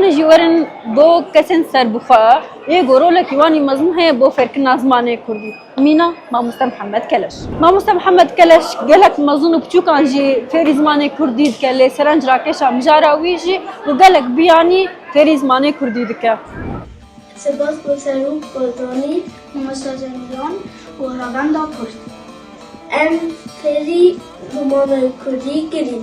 Hûn jî werin bo kesên serbixwe yê ku rolekî wan jî mezin heye bo fêrkirina zimanê kurdî. Mîna, Mamoste Mihemed Keleş. Mamoste Mihemed Keleş gelek mezin û piçûkan jî fêrî zimanê kurdî dike lê serenc rakêşa mijara wî jî ku gelek biyanî fêrî zimanê kurdî dike. Spas bo Serok Barzanî, Mamoste Cemîlan û Revenda Kurd. Em fêrî zimanê kurdî kirîn.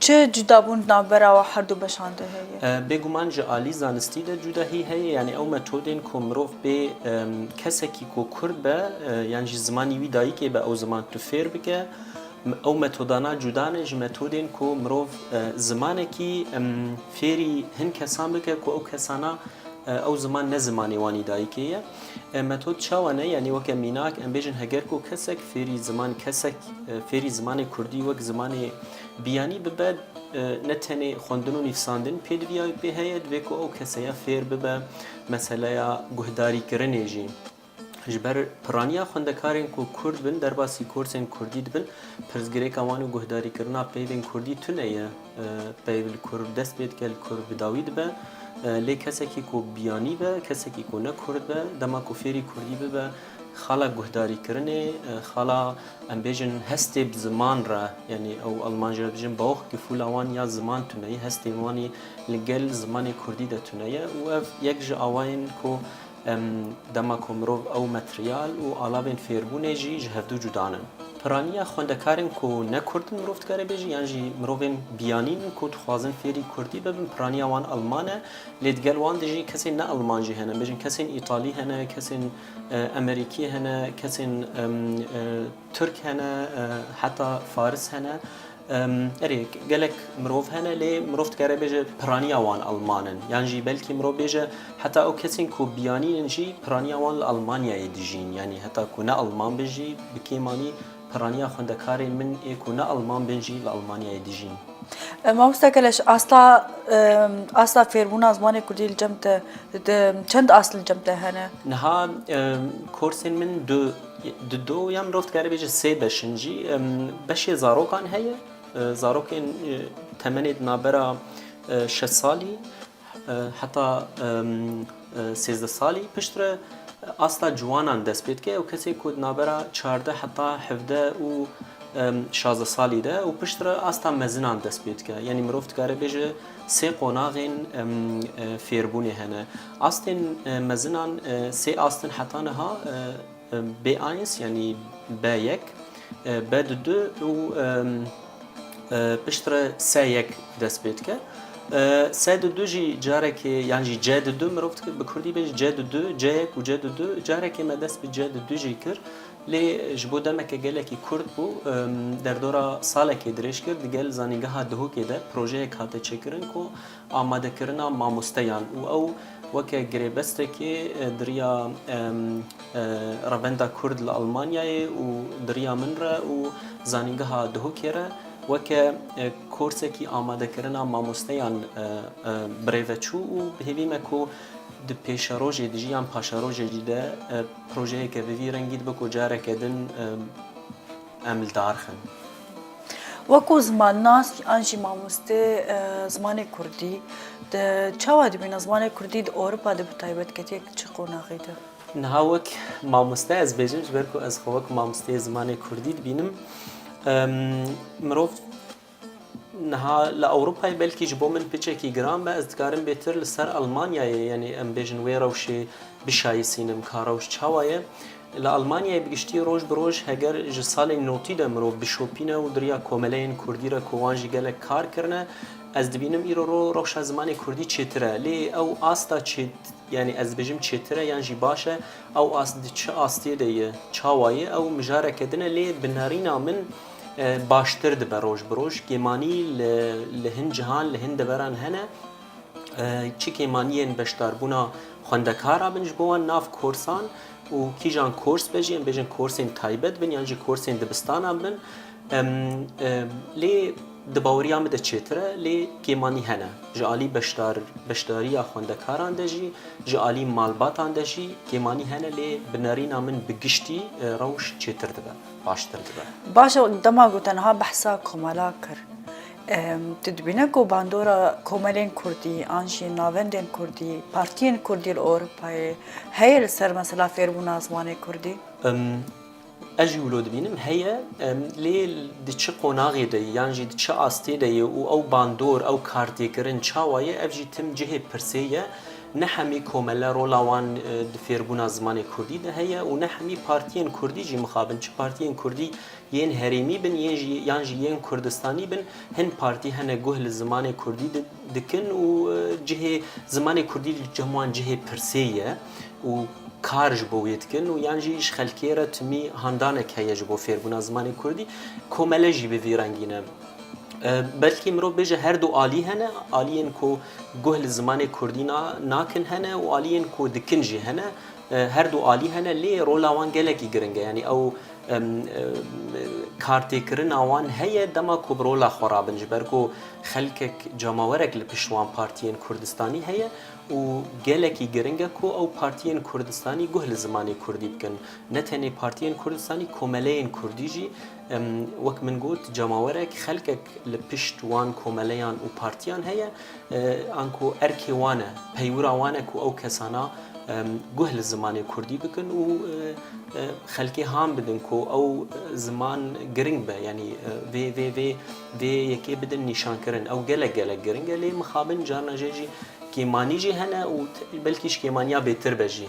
Çi cudabûn di navbera herdu beşan de heye? Bêguman ji alî zanistî de cudahî heye, yanî ew metodên ku mirov bê kesekî ku kurd be yan jî zimanî wî dayikê be ew ziman tu fêr bike, ew metodana cuda ne ji metodên ku mirov zimanekî fêrî hin kesan bike ku ew kesana ew ziman ne zimanê wanî dayikê ye. Metod çawa ne? Yanî weke mînak em bêjin heger ku kesek fêrî ziman kesek fêrî zimanê kurdî wek zimanê Biyanî bibe ne tenê xwendin û nivîsandin pê diviya û pê heye divê ku ew keseya fêr bibe meseleya guhdarîkirinê jî. Ji ber piraniya xwendekarên ku kurd bin derbasî korsên kurdî dibin pirsgirêka wan û guhdarîkirina peyvên kurdî tune ye. Peyv li ku dest pê dike li ku bi dawî dibe lê kesekî ku biyanî be kesekî ku ne kurd be dema ku fêrî kurdî bibe Xala guhdarîkirinê, xala em bêjin hestê bi ziman re yanî ew alman jî re dijin Bauchgefühl wan ya ziman tune ye, hestê wanî li gel zimanê kurdî de tune ye û ev yek ji awayên ku em dema ku mirov ew materyal û alavên fêrbûnê jî ji hevdu cuda nin. Piraniya xwendekarên ku ne kurd in mirov dikare bêje yan jî mirovên biyanîn ku dixwazin fêrî kurdî bibin piraniya wan alman e. Lê di gel wan de jî kesên ne Elman jî hene, bêjin kesên Îtalî hene, kesên Emerîkî hene, kesên Tirk hene, heta Faris hene. Erê gelek mirov hene lê mirov dikare bêje piraniya wan Elman in. Yan jî belkî mirov bêje heta ew kesên ku biyanîn in jî piraniya wan li Elmanyayê dijîn. Yanî heta ku ne Elman bin jî bi kêmanî Piraniya xwendekarên min ê ku ne Alman bin jî li Almanyayê dijîn. Mamoste Keleş, asta asta fêrbûna zimanê Kurdî li cem te çend ast li cem te hene? Niha korsên min du di do ya mirov dikare bêje sê beş in jî. Beşê zarokan heye, zarokên temenê di navbera şeş salî Heta sêzdeh salî piştre asta ciwanan dest pê dike û kesê ku di navbera çardeh heta hevdeh û şazdeh salî de û piştre asta mezinan dest pê dike. Yanî mirov dikare bêje sê qonaxên fêrbûnê hene. Astên mezinan sê ast in heta niha. B-eins yanî B-yek, B-du du û piştre S-yek dest pê dike. S-du du jî carekê yan jî C-du du mirov dike bi kurdî bê jî C-du du, C-yek û C-du du carekê me dest bi C-du du jî kir. Lê ji bo demeke gelekî kurt bû derdora salekê dirêj kir di gel zanîngeha Duhokê de projeyek hate çêkirin ku amadekirina mamosteyan û ew weke girêbestekê di riya Revenda Kurd li Elmanyayê û di riya min re û Zanîngeha Duhokê re weke korsekî amadekirina mamosteyan birêve çû û hêvî me ku di pêşerojê dijî yan paşerojê jî de projeyeke bi vî rengî dibe ku careke din Em li dar xin. Weko zimannas an jî mamoste zimanê kurdî di çawa dibîne zimanê kurdî di Ewropa de bi taybetketyek di çi qonaxê de? Niha wek mamoste ez bêjim ji ber ku ez xwe wek mamosteyê zimanê kurdî dibînim. Mirov Niha li Ewropayê belkî ji bo min piçekî giran be, ez dikarim bêtir li ser Elmanyayê yanî em bêjin wê rewşê bişayîsînim ka rewş çawa ye. Li Elmanyayê bi giştî roj bi roj heger ji salên notî de mirov bişopîne û diriya komeleyên kurdî re ku wan jî gelek kar kirine, ez dibînim îro ro rewşa zimanê kurdî çêtir e. Lê ew asta çêt yanî ez dibêjim çêtir e yan jî baş e, ew ast di çi astiyê de ye, çawa ye ew mijareke din e lê bi nerîna min, Baştir dibe roj bi roj. Kêmanî li li hin cihan li hin deveran hene. Çi kêmaniyên beşdarbûna xwendekara bin ji bo wan nav korsan û kîjan kors be jî em bêjin korsên taybet bin yan jî korsên dibistanan bin. Lê di baweriya min de çêtir e lê kêmanî hene. Ji alî beşdar beşdariya xwendekaran de jî ji alî malbatan de jî kêmanî hene lê bi nerîna min bi giştî rewş çêtir dibe. baştir dibe. Baş e dema ku tenha behsa komela kir. Tu dibîne ku bandora komelên Kurdî an jî navendên Kurdî, partiyên Kurdî li Ewropayê heye li ser mesela fêrbûna zimanê Kurdî? Ez jî wilo dibînim heye lê di çi qonaxê de ye yan jî di çi astê de ye û ew bandor ew kartêkirin çawa ye ev jî tim cihê pirsê ye. Ne hemî komele rola wan di fêrbûna zimanê kurdî de heye û ne hemî partiyên kurdî jî mixabin. Çi partiyên kurdî yên herêmî bin yên jî yan jî yên kurdistanî bin hin partî hene guh li zimanê kurdî dikin û cihê zimanê kurdî li cem wan cihê pirsê ye û kar ji bo wê dikin û yan jî ji xelkê re timî handanek heye ji bo fêrbûna zimanê kurdî. Komele jî bi vî rengî ne. Belkî mirov bêje her du alî hene, aliyên ku Guh li zimanê kurdî nakin hene û aliyên ku dikin jî hene. Her du alî hene lê rola wan gelekî giring e. Yanî ew kartêkirina wan heye dema ku bi rola xwe rabin ji ber ku xelkek cemawerek li pişt wan partiyên kurdistanî heye û gelekî giring e ku ew partiyên kurdistanî guh li zimanê kurdî bikin. Ne tenê partiyên kurdistanî komeleyên kurdî jî Wek min got cemawerek, xelkek li pişt wan komeleyan û partiyan heye, anku erkê wan e, peywira wan e ku ew kesana guh li zimanê kurdî bikin û xelkê ham bidin ku ew ziman giring be, yanî vê vê vê vê yekê bidin nîşankirin. Ew gelek gelek giring e lê mixabin carna jê jî kêmanî jî hene û belkî ji kêmaniya bêtir be jî.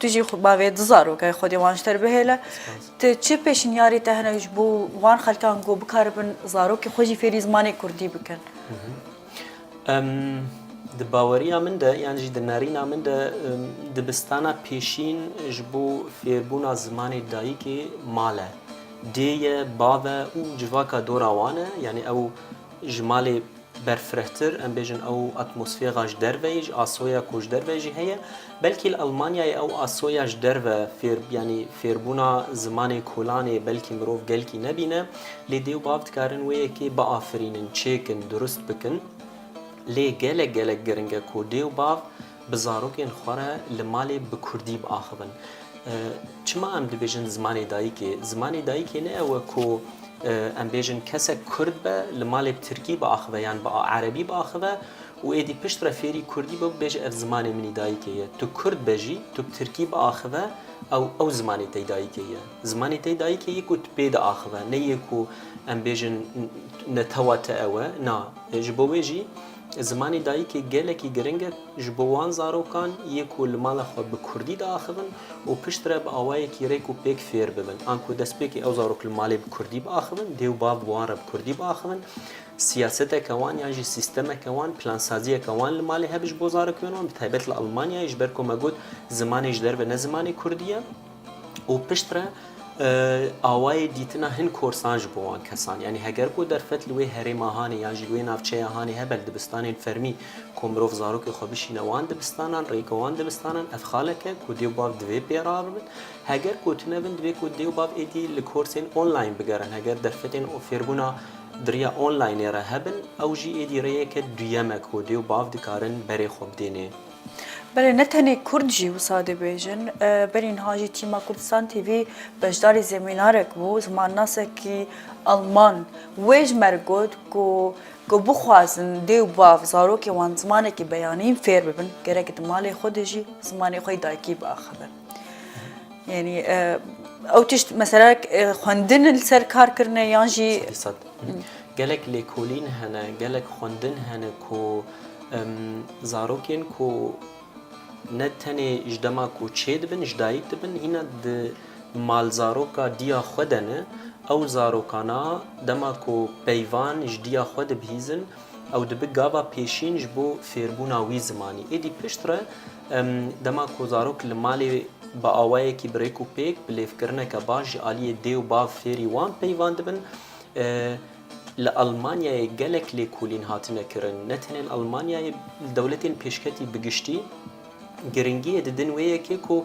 Tu jî xwe bavê du zarokên xwe dê wan ji te re bihêle. Tu çi pêşniyarê te hene ji bo wan xelkan ku bikaribin zarokên xwe jî fêrî zimanê kurdî bikin? Di baweriya min de yan jî di nerîna min de dibistana pêşîn ji bo fêrbûna zimanê dayikê mal e. Dê ye, bav e û civaka dora wan e. Yanî ew ji malê berfirehtir em bêjin ew atmosfêra ji derve ye ji asoya ku ji derve jî heye belkî li Elmanyayê ew asoya ji derve fêr yanî fêrbûna zimanê kolanê belkî mirov gelkî nebîne lê dê û bav dikarin wê yekê biafirînin çêkin durust bikin lê gelek gelek giringe ku dê û bav Bi zarokên xwe re li malê bi kurdî biaxivin. Çima em dibêjin zimanê dayikê? Zimanê dayikê ne ew e ku em bêjin kesek kurd be li malê bi tirkî biaxive yan bi erebî biaxive û êdî pişt re fêrî kurdî be û bibêje ev zimanê min î dayikê ye. Tu kurd be jî tu bi tirkî biaxive ew ew zimanê te î dayikê ye. Zimanê te î dayikê yê ku tu pê de axive ne yê ku em bêjin netewa te ew e. Na, ji bo wê jî. Zimanê dayikê gelekî giring e ji bo wan zarokan yê ku li mala xwe bi kurdî diaxivin û piştre bi awayekî rêk û pêk fêr bibin. Anku destpêkê ew zarok li malê bi kurdî biaxivin, dê û bav bi wan re bi kurdî biaxivin. Siyaseteke wan yan jî sîstemeke wan, plansaziyeke wan li malê hebe ji bo zarokên wan, bi taybet li Elmanyayê ji ber ku me got zimanê ji derve ne zimanê kurdî ye. û piştre awayê dîtina hin korsan ji bo wan kesan yanî heger ku derfet li wê herêma hanê yan jî li wê navçeya hanê hebel dibistanên fermî ku mirov zarokê xwe bişîne wan dibistanan rêka wan dibistanan ev xaleke ku dê û bav divê pê re bibin heger ku tune bin divê ku dê û bav êdî li korsên online bigerin heger derfetên û fêrbûna di riya onlinê re hebin ew jî êdî rêyeke duyem e ku dê û bav dikarin berê xwe bidênê. Belê ne tenê kurd jî wisa dibêjin, berî niha jî tîma Kurdistan TV beşdarî zemînarek bû, zimannasekî Alman wê ji mer got ku ku bixwazin dê û bav zarokên wan zimanekî beyanîn fêr bibin gerek di malê xwe de jî zimanê xwe yê dayikî biaxivin. Yanî ew tişt mesela xwendin li ser kar kirine yan jî gelek lêkolîn hene, gelek xwendin hene ku Zarokên ku ne tenê ji dema ku çêdibin ji dayîk dibin hîna di malzaroka diya xwe de ne, ew zarokana dema ku peyvan ji diya xwe dibihîzin ew dibi gava pêşîn ji bo fêrbûna wî zimanî. Êdî pişt re dema ku zarok li malê bi awayekî bi rêk û pêk, bi lêvkirineke baş ji aliyê dê û bav fêrî wan peyvan dibin, Li Elmanyayê gelek lêkolîn hatine kirin. Ne tenê li Elmanyayê, li dewletên pêşketî bi giştî giringiyê didin wê yekê ku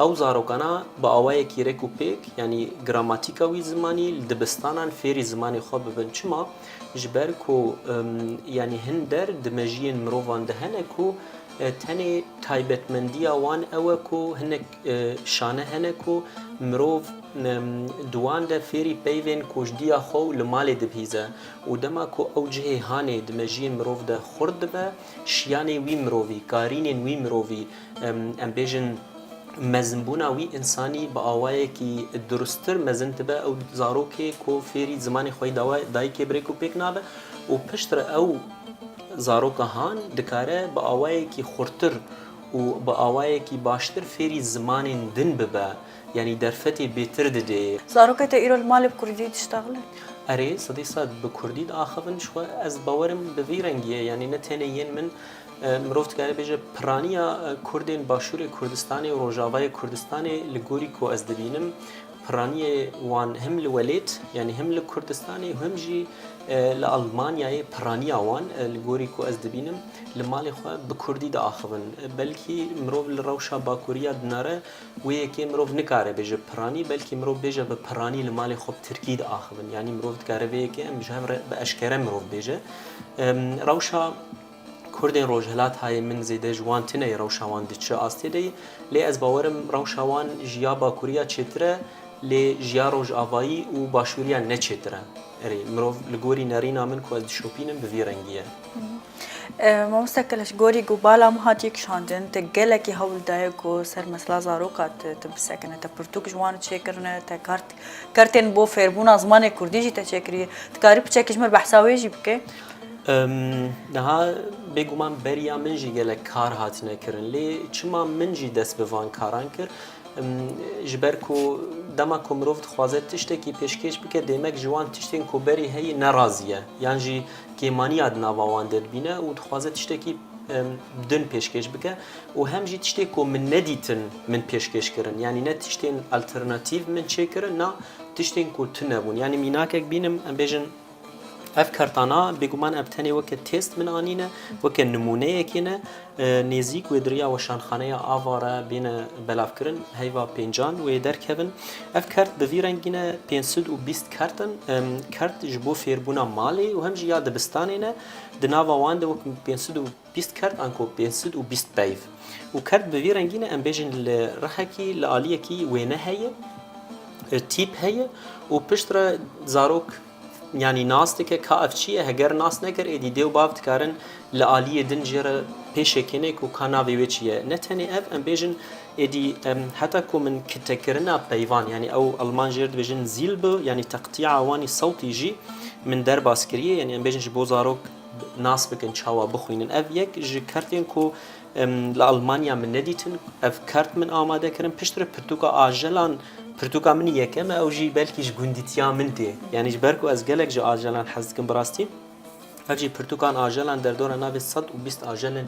ew zarokana bi awayekî rêk û pêk yanî gramatîka wî zimanî li dibistanan fêrî zimanê xwe bibin. Çima? Ji ber ku yanî hin der di mejiyên mirovan de hene ku tenê taybetmendiya wan ew e ku hinek Şane hene ku mirov di wan de fêrî peyvên koçdiya xwe û li malê dibihîze û dema ku ew cihê hanê di mejiyên mirov de xurt dibe, şiyanê wî mirovî, karînên wî mirovî, em bêjin mezinbûna wî însanî bi awayekî durustir mezin dibe, ew zarokê ku fêrî zimanê xweyî dawe dayikê birêk û pêk nabe û piştre ew zaroka han dikare bi awayekî xurtir û bi awayekî baştir fêrî zimanên din bibe, yanî derfetê bêtir didê. Zarokê te îro li malê bi kurdî diştexile? Erê, sedî sed bi kurdî diaxivin. Ji xwe ez bawerim bi vî rengiyê, yanî ne tenê yên min, mirov dikare bêje piraniya kurdên başûrê Kurdistanê û rojavayê Kurdistanê li gorî ku ez dibînim, piraniyê wan him li welêt, yanî him li Kurdistanê û him jî li Elmanyayê piraniya wan li gorî ku ez dibînim, Li malê xwe bi kurdî diaxivin. Belkî mirov li rewşa bakurî ya dinare wê yekê mirov nikare bêje bi piranî belkî mirov bêje bi piranî li malê xwe bi tirkî diaxivin. Yanî mirov dikare vê yekê em ji hev re bi eşkere mirov bêje. Rewşa kurdên rojhilatayê min zêde ji wan tune ye rewşa wan di çi astê de ye. Lê ez bawer im rewşa wan ji ya bakurî ya çêtir e lê ji ya rojavayî û başûrî ya ne çêtir e. Erê, mirov li gorî nerîna min ku ez dişopînim bi vî rengî ye. Mamoste Keleş, gorî ku bala min hatiye kişandin, te gelekî hewl daye ku ser mesela zaroka te tu bisekine, te pirtûk ji wan çêkirine, te kart kartên bo fêrbûna zimanê kurdî jî te çêkiriye. Dikarî piçekî ji min behsa wê jî bike? Niha bêguman beriya min jî gelek kar hatine kirin lê çima min jî dest bi van karan kir? Ji ber ku dema ku mirov dixwaze tiştekî pêşkêş bike dêmek ji wan tiştên ku berî heyî nerazî ye yan jî kêmaniya di nava wan de dibîne û dixwaze tiştekî din pêşkêş bike û hem jî tiştê ku min nedîtin min pêşkêş kirin yanî ne tiştên alternatîv min çêkirin na tiştên ku tune bûn yanî mînakek bînim em bêjin Ev kertana bêguman em tenê weke têst min anîne, weke nimûneyekê ne. Nêzîk wê diriya weşanxaneya ava re bêne belavkirin, heyva pêncan wê derkevin. Ev kert bi vî rengî ne pênc sed û bîst kert in. Kert ji bo fêrbûna malê û hem jî ya dibistanê ne. Di nava wan de wek pênc sed û Bîst kerd anko pênc sid û bîst peyv. Û kerd bi vî rengî ne em bêjin li rihekî li aliyekî wêne heye, tîp heye û pişt re zarok yanî nas dike ka ev çi ye heger nas nekir êdî dê û bav dikarin li aliyê din jê re pêşê kêne ku ka navê wê çi ye. Ne tenê ev em bêjin êdî heta ku min kitekirina peyvan yanî ew elman jê re dibêjin Silbe yanî teqtîya wanî sewtî jî min derbas kiriye yanî em bêjin ji bo zarok Nas bikin çawa bixwînin. Ev yek ji kertên ku li Almanya min nedîtin. Ev kert min amade kirin. Pişt re pirtûka ajelan pirtûka min yekem e. Ew jî belkî ji gundîtiya min tê. Yanî ji ber ku ez gelek ji ajelan hez dikim bi rastî. Ev jî pirtûkan ajelan derdora navê sed û bîst ajelên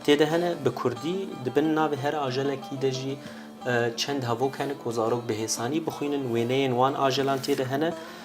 tê de hene. Bi kurdî di bin navê her ajelekî de jî çend hevok hene ku zarok bi hêsanî bixwînin. Wêneyên wan ajelan tê de hene.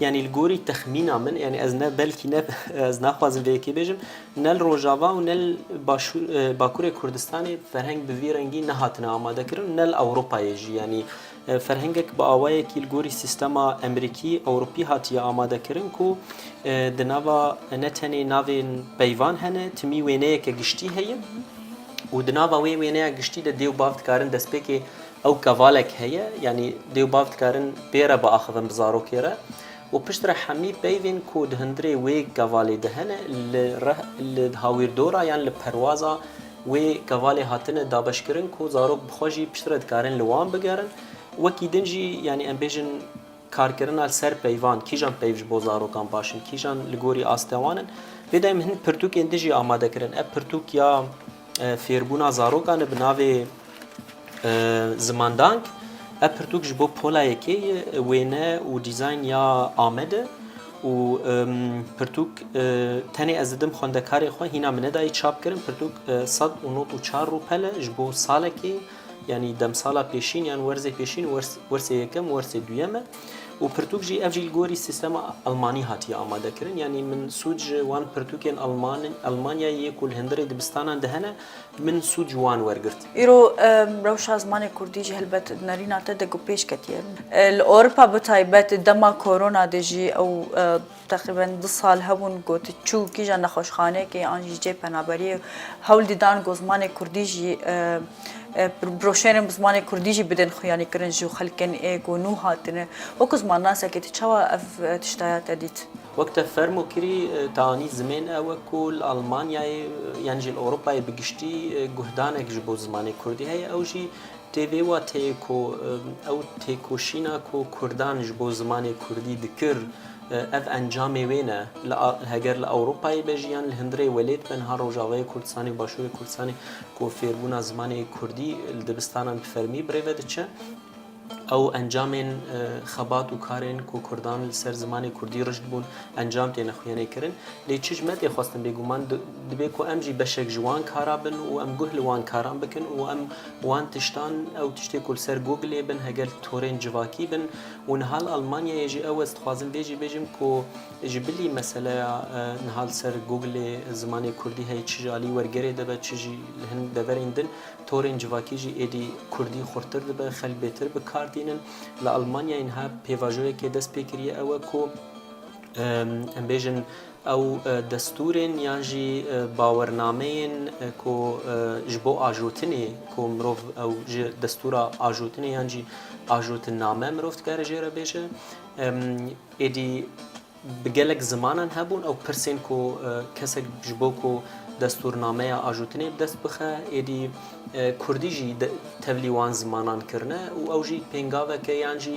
Yanî li gorî texmîna min yanî ez ne belkî ne ez naxwazim vê yekê bêjim ne li Rojava û ne li başûr Bakurê Kurdistanê ferheng bi vî rengî nehatine amadekirin ne li Ewropayê jî yanî ferhengek bi awayekî li gorî sîstema Emerîkî Ewropî hatiye amadekirin ku di nava ne tenê navên peyvan hene timî wêneyeke giştî heye û di nava wê wêneya giştî de dê û bav dikarin destpêkê Ew kevalek heye, yanî dê û bav dikarin pê re biaxivin bi zarokê re û piştre hemî peyvên ku di hundirê wê kevalê de hene li reh li hawîrdora yan li perwaza wê kevalê hatine dabeşkirin ku zarok bi xwe jî piştre dikarin li wan bigerin. Wekî din jî yanî em bêjin. Karkirina li ser peyvan, kîjan peyv ji bo zarokan baş in, kîjan li gorî astê wan in. Vê dayî min hin pirtûkên din jî amade kirin. Ev pirtûk ya fêrbûna zarokan e bi navê Zimandank. Ev pirtûk ji bo pola yekê ye, wêne û dîzayn ya Amed e û pirtûk tenê ez didim xwendekarê xwe hîna min nedayî çap kirin. Pirtûk sed û nod û çar rûpel e ji bo salekê. Yanî demsala pêşîn yan werzê pêşîn wersê yekem wersê duyem e û pirtûk jî ev jî li gorî sîstema elmanî hatiye amadekirin yanî min sûc ji wan pirtûkên elman elmanyayê yê ku li hindirê dibistanan de hene min sûc ji wan wergirt. Îro rewşa zimanê kurdî jî helbet di nerîna te de ku pêş ketiye li Ewropa bi taybet dema korona de jî ew Teqrîben du sal hebûn ku tu çû kîja nexweşxaneyekê an jî cihê penaberiyê hewl dî dan ku zimanê kurdî jî broşêrên bi zimanê kurdî jî bidin xuyanî kirin ji xelkên ê ku nû hatine. Wek zimannasekê tu çawa ev tiştaya te dît? Wek te fermo kirî te anî zimên ew e ku li Elmanyayê yan jî li Ewropayê bi giştî guhdanek ji bo zimanê kurdî heye ew jî Tê vê wateyê ku ew têkoşîna ku Kurdan ji bo zimanê Kurdî dikir ev encamê wê ne. Heger li Ewropayê be jî yan li hundirê welêt be niha Rojavayê Kurdistanê û Başûrê Kurdistanê ku fêrbûna zimanê Kurdî li dibistanan bi fermî bi rê ve diçe. Ew encamên xebat û karên ku Kurdan li ser zimanê Kurdî rişt bûn encam têne xwîyanê kirin. Lê çi ji me tê xwestin bêguman dibê ku em jî beşek ji wan kara bin û em guh li wan karan bikin û em Bi wan tiştan ew tiştê ku li ser Googlê bin heger torên civakî bin û niha li Almanyayê jî ew ez dixwazim vê jî bêjim ku ji bilî meseleya niha li ser Googlê zimanê kurdî heye çi ji alî wergerê de be çi jî li hin deverên din torên civakî jî êdî kurdî xurtir dibe xelk bêtir bi kar tînin li Almanyayê niha pêvajoyekê dest pê kiriye ew e ku em bêjin Ew destûrên yan jî bawernameyên ku ji bo ajotinê ku mirov ew ji destûra ajotinê yan jî ajotinname mirov dikare jê re bêje. Êdî bi gelek zimanan hebûn ew pirsên ku kesek ji bo ku destûrnameya ajotinê bi dest bixe êdî kurdî jî tevlî wan zimanan kirine û ew jî pêngaveke yan jî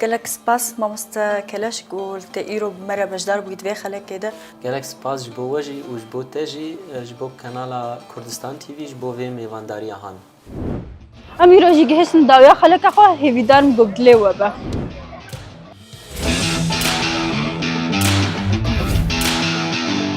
Gelek spas mamoste Keleş ku te îro bi me re beşdar bûyî di vê xelekê de. Gelek spas ji bo we jî û ji bo te jî, ji bo Kanala Kurdistan TV ji bo vê mêvandariya han. Em îro jî gihiştin dawiya xeleka xwe, hêvîdar im ku dilê we be.